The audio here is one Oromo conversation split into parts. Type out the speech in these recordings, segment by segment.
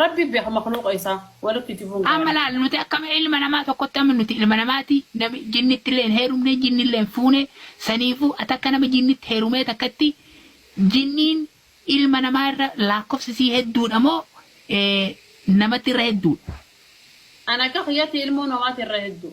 Rabbi beeka makhluuqa isaa warra kijibuun Amma gaarii. laal nuti akkam ilma namaa tokkotti amma nuti ilma namaati nami jinnittillee hin heerumne jinnillee hin fuune saniifuu ati akka nama jinnitti heerumee takkatti jinniin ilma namaa irra laakkofsi isii hedduudha moo namatti irra hedduudha? An akka kiyyatti ilmoo namaati irra hedduu.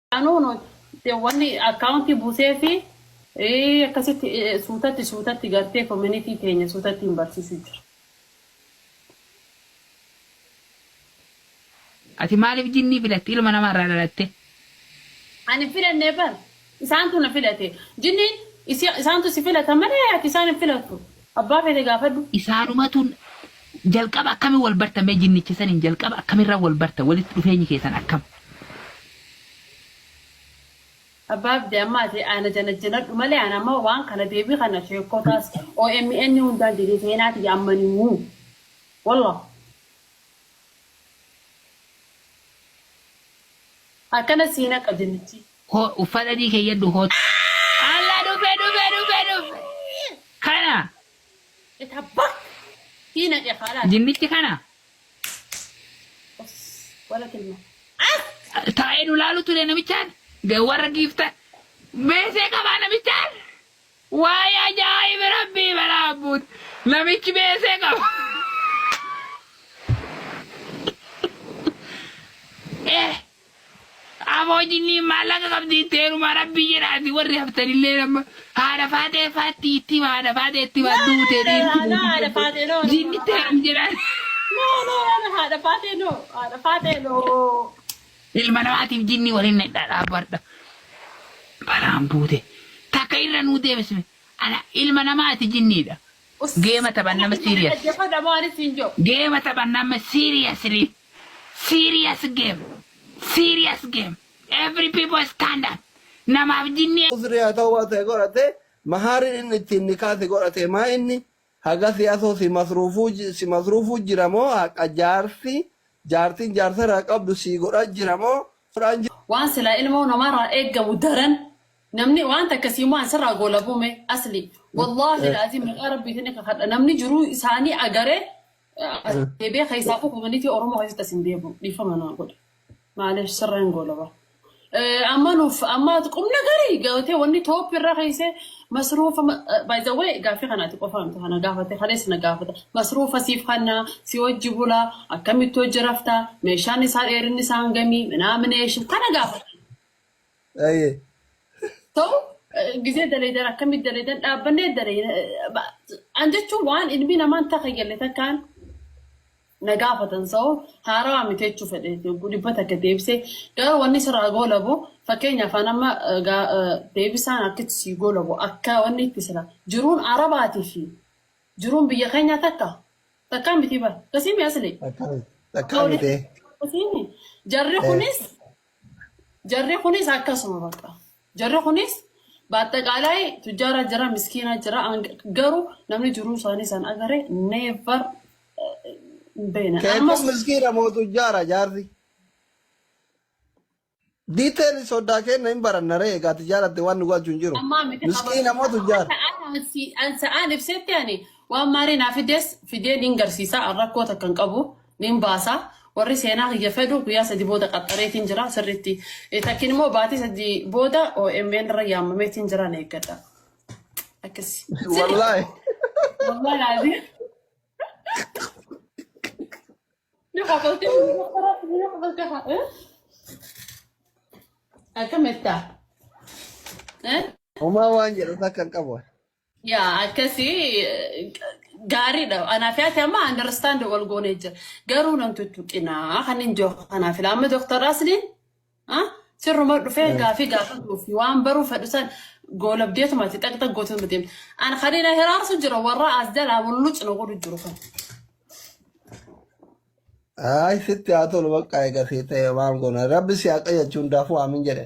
Anuu nu wanni akkaawuntii buusee fi eh, akkasitti eh, suutatti suutatti gartee koominitii teenya suutatti hin barsiisuu jira. Ati maaliif jinnii filatte ilma namaa irraa dhalatte? Ani hin filannee bar. Isaantu na filate. Jinniin isi- isaantu si filata malee ati isaan hin filattu. Abbaa fete gaafadhu. Isaanumatu Jalqaba akkami wal bartan mee jinnicha saniin jalqaba akkamirra wal bartan walitti dhufeenyi keessan akkam. Abbaa abdee amma ati ana janajjanadhu malee an amma waan kana deebii kana sheekkotaas omn hundaan jedhee seenaa tiyya amma hin himu wallah akkana sii naqa jinnichii. Ho uffata adii keeyyadhu kootu. Allah dhufe dhufe dhufe dhufe. Kana. Ita bak. Hina deh halas. Jinnichi kana. Os. Wala kilma. Ah. Taa'ee nu laalu ture namichaan. Ga- Warra giifta. Beesee qabaa namichaan. Waa'ee ajaa'iba rabbii balaa abbuut. Namichi beesee qaba. Eh. Aboo jinniin maallaqa qabdi itti heerumaa rabbii jedhaati warri haftanilleen amma haadha faaxee faatti itti hima haadha faaxee itti hima duute dhiirti buuti jinnitti heerum jedhaan. No no no haadha faatee no haadha faatee no. Ilma namaatiif jinnii waliin nadhaa dhaabadha. Balaan buute takka irra nuu deebisme ana ilma namaati jinniidha. Geema taphanna amma serious Geema taphanna amma seriously Serious game Serious game Every people stand up Namaaf jinni Uzrii haa ta'uu waan ta'e godhate mahaarin inni ittiin nikaa si godhate maa inni hagasi asoo si masruufuu si masruufuu jira moo haqa jaarsi jaartin jaarsa irraa qabdu sii godha jira moo godhaan jira. Waan silaa ilmoo namaraa eeggamu daran Namni waan takka sii mo'an sirraa goolabuu mee asli wallaahi laaziim maqaa rabbiitiin ni kakadha namni jiruu isaanii agaree eh, as deebi'ee keessaafuu komunitii oromoo keessatti as hin deebi'u dhiifama naa godhe maaliif sirraa hin goolaba. Eh, Amma nuuf amma qubna garii gabatee wanni tooppi irra keessee masruufa by the way gaaffii kanaati qofa miti kana gaafate kalees na gaafata masruufa siif kannaa si hojji bulaa akkamitti hojji raftaa meeshaan isaa dheerinni isaa hangamii minaa mineesha kana gaafata. Aye. ta'u eh, gizee daleedan akkamit daleedan dhaabbannee dalee an jechuun waan ilmi namaan takka galle takkaan na gaafatan sa'o haarawaa miti jechuu fedhe dhibba takka deebisee garuu wanni sirraa goolabu fakkeenyaaf an amma eh, gaa- eh, deebisaan akkatti sii goolabu akka wanni itti sila jiruun arabaatii fi jiruun biyya keenyaa takka takkaa miti bara kasii mi'aslee Takkaa miti. Takkaa miti. Jarri Eh. kunis Jarri kunis akkasuma bakka. Jarri kunis baaxxaqaalaa tujjaara jira, miskiina jira, garuu namni jiruu isaanii san agare never hin beekne. Keekun Ammas miskiina moo tujjaara jaarsi? Detail sodaa kenna hin baranna ree egaa tijaaratte waan nu galchu hin jiru. ammaa miti Miskiina moo tujjaara? Ansa'aan ibsetti ani waan maarii naa fides fidee niin garsiisa rakkoo takka hin qabu. Nin baasa. Warri seenaa kiyya fedhu guyyaa sadi booda qaxxareetiin jira sirriitti. Takkin immoo baatii sadi booda OMN irra yaamameetiin jira na eeggadha. Akkasi. Wallaahi. Wallahi laazii. Ni kafaltee ni kafaltee haa. eh? Akkamitti ta'a? Eh? Homaa waan jedhu takka hin qabu. Yaa akkasii gaariidha. Anaaf yaate amma understand wal goonee jira. Garuu nan tuttuqinaa kan hin jiru kanaaf ila amma Dr. Asliin ah, sirruma dhufee Eh, gaafii gaafatuuf waan baruu fedhu san goolabdeetuma ati xaqxa gootuun deemte. An kan ila hiraarsu jira warra as jalaa mullucna godhu jiru kan. Ay, sitti haa tolu bakka eega sii ta'e waan goona. Rabbi si haqa jechuun daafuu aamin jedhe.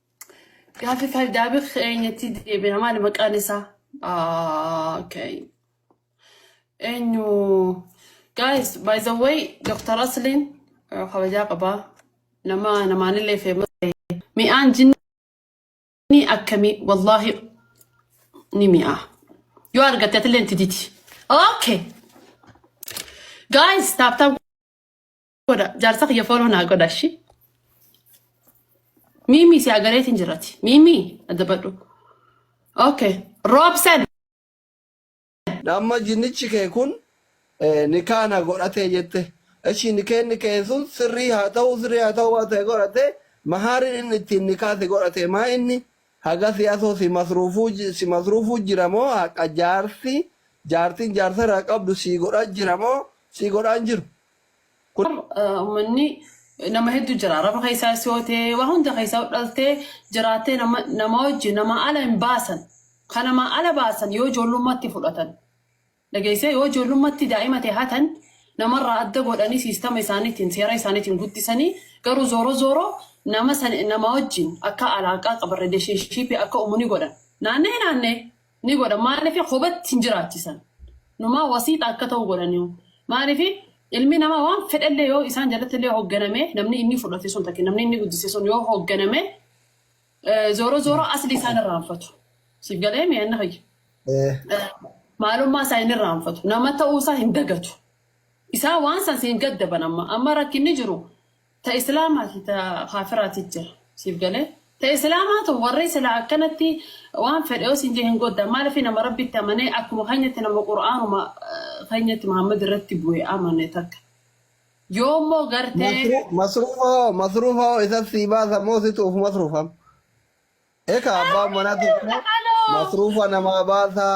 Gaaffii faayidaabii keenyatti deebina maali maqaan isaa? Ah, okay. Eenyu? Guys, by the way, Dr. Aslin eh, kabajaa qaba. Nama namaanillee feema. Mi'aan jinnii akkamii? Wallaahi ni mi'aa. Yoo argatte atillee itti didi. Okay. Guys, taaptaan godha jaarsa kiyya fooloo naa godha shi miimii si agareetiin jirati miimii addabadhu okay roobsen Amma jinnichi kee kun eh, nikaa na godhatee jette. Eshi nikeenni kee sun sirrii haa ta'u sirrii haa ta'u waan ta'e godhate mahaariin inni ittiin nikaa si godhate maa inni haga si asoo si masruufuu ji- si masruufuu jira moo haqa jaarsi jaartiin jaarsa irraa qabdu si godhaa jira moo si godhaa hin jiru. Kun ummanni nama hedduu jira. Araba keessaa si hootee waa hunda keessaa dhaltee jiraattee nama nama wajji nama ala hin baasan. Kan nama ala baasan yoo ijoollummaatti fudhatan. Dhageessee yoo ijoollummaatti daa'ima ta'e hatan namarraa adda godhanii siistama isaaniitiin seera isaaniitiin guddisanii garuu zooro zooro nama san nama wajjin akka alaaqaa qaban relationship akka uumuu ni godhan. Naannee naannee ni godha maalifi kobatti hin jiraachisan numaa wasiixa akka ta'u godhaniu maalifi ilmi namaa waan fedhellee yoo isaan jalatti illee hoogganame namni inni fudhate sun takke namni inni guddise sun yoo hoogganame eh, zooroo zooroo asli isaan irraanfatu siif galee mi'anna fayya Eh, maalummaa isaa inni irraanfatu nama ta'uu isaa hin dagatu isaa waan san siin gaddaban amma amma rakkinni jiru Ta islaamaafi ta kaafiraati jira. Siif galee? Ta islaamaa tun warri silaa akkanatti waan fedhe yoo siin jee hin godda. Maalifi nama Rabbitti amanee akkuma keenyatti nama Qur'aanuma keenyatti Muhammad irratti bu'e amane takka. Yoo immoo gartee Masru- Masruufa hoo masruufa hoo isa sii baasa moo situ of masruufam? Eka abbaan manaa tokko Aloo! masruufa namaa baasa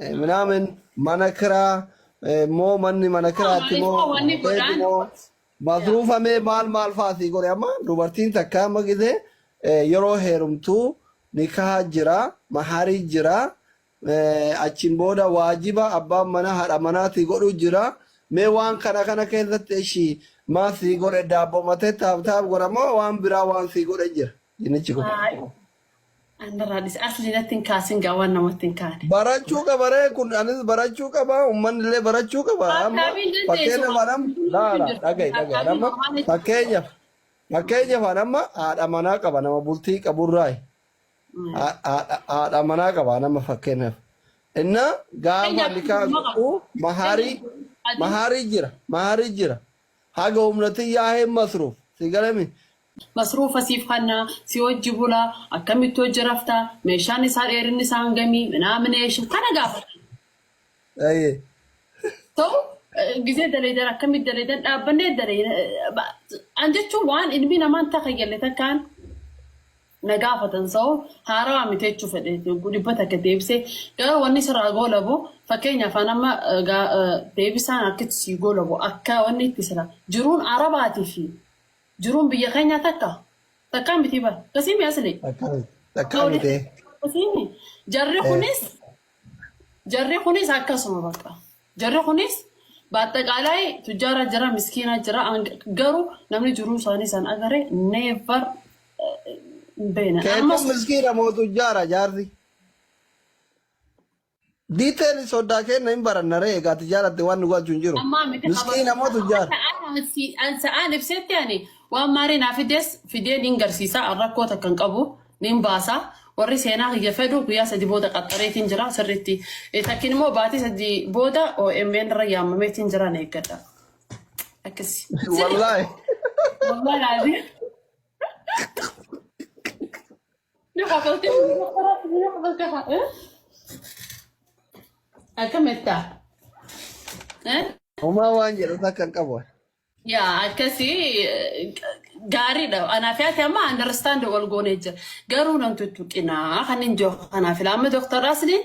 eh, minaamin mana kiraa eh, moo manni mana kiraati moo Maaliif wanni hoteelli godhaan moo Masruufa mee maal maal faa sii godhe amma dubartiin takka amma gise yeroo heerumtu nikaha jira mahari jira achiin booda waajiba abbaan mana haadha manaatii godhu jira mee waan kana kana keessatti ishi maa sii godhe daabbomatee taab taab godha moo waan biraa waan sii godhe jira jinnichi kun. Andarraa dhise asli natti hin kaasin gaa waan namatti hin kaane. Barachuu qaba ree kun anis barachuu qaba uummanni illee barachuu qaba amma Akkaamiin dandeessu fakkeenya waan faanam hunduu laala jirtu dhaga'i dhaga'i akkaamiin amma waan itti fakkeenya fakkeenya faan amma haadha manaa qaba nama bultii qaburraayi Ha- haadha haadha manaa qaba nama fakkeenyaaf inna gaafa fakkeenyaaf nikaa dhuguma qaba. godhu mahaarii Fakkeenyaaf adii mahaarii jira mahaarii jira haga humnatii yaa'ee masruuf si galami Masruufa siif kanna, si wajji bula, akkamitti wajji rafta, meeshaan isaa dheerinni isaa hangami, minaamin eesha, kana gaafadha. Aye. So gizee daleedan akkamitti daleedan dhaabbannee daleeyna an jechuun waan ilmi namaan takayyalle takkaan na gaafatan so haarawaa miti jechuu fedhe dhibba takka deebisee garuu wanni sirraa goolabu fakkeenya afaan amma eh, gaa- eh, deebisaan harkitti sii goolabu akka wanni itti sira jiruun arabaatii fi Jiruun biyya keenyaa takka takkaa mitii bara. Akkasii mi asli? Takkaa mitee. Akkasii mi? Jarri kunis jarri kunis akkasuma bakka. Jarri kunis baaxaqaalaay tujjaara jira miskiina jira ang- garuu namni jiruu isaanii san agare never beena. Keetuun Ammas miskiina mootu jaara jaarsi. Detail soddaa keenna hin baranna ree egaa ati jaalatte waan nu galchu hin jiru. Ammaa miti Miskiin ammoo qabachuun tujjaar. sa'aan si- an sa'aan ibsetti ani waan maarii naa fides fidee niin garsiisa an rakkoo takka hin qabu niin baasa warri seenaa kiyya fedhu guyyaa sadi booda qaxxareetiin jira sirriitti Eh, takkin immoo baatii sadi booda OMN irra yaamameetiin jira na eeggadha akkasi sirri Wallaahi. wallaahi Yoo qabaltee yoo qabaltee yoo qabaltee haa eh? Akkamittaa? Eh? Homaa waan jedhu takka hin qabu. Yaa akkasii eh, gaariidha. Anaaf yaate amma understand wal goonee jira. Garuu namtu tuttuqinaa kan hin jiru. Kanaaf ilaama Dooktar Asliin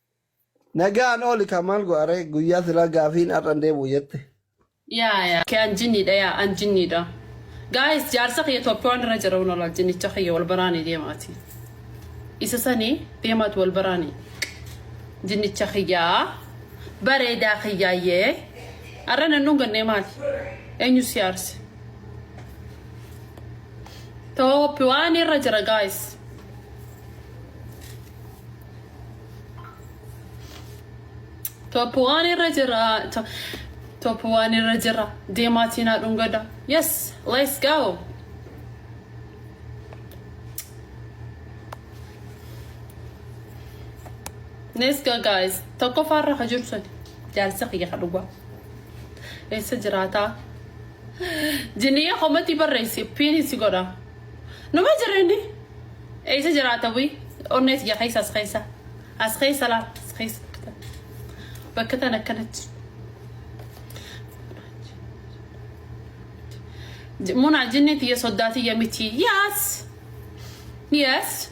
Nagaan ooli kaa maal go'a ree guyyaa silaa gaafiin har'a hin deebi'u jette. Yaa yaa kee an jinniidha yaa an jinniidha guys jaarsa kiyya Ethiopian irra jira wal wal jinnicha kiyya wal baraani deemaati isa sani deemaatu wal baraani jinnicha kiyya bareedaa kiyyaayyee arra nan dhungannee maali eenyu si aarse Ethiopian irra jira guys Top waan irra jira. To- Top waan irra jira. Deemaa tiinaa dhungada. Yes, let's go. Let's go guys. Tokkoffaa irra ka jiru sun. Jaarsa kiyya ka dhugaa. Eessa jiraataa? Jinniyyee komatti barreessi. Piinisi godha. Numa jira inni. Eessa jiraata bu'i? Onnee tiyya keessa as keessa. As keessa laa as keessa. Bakka tan akkanatti. J- Munaa jinni tiyya soddaa tiyya miti. Yes. Yes.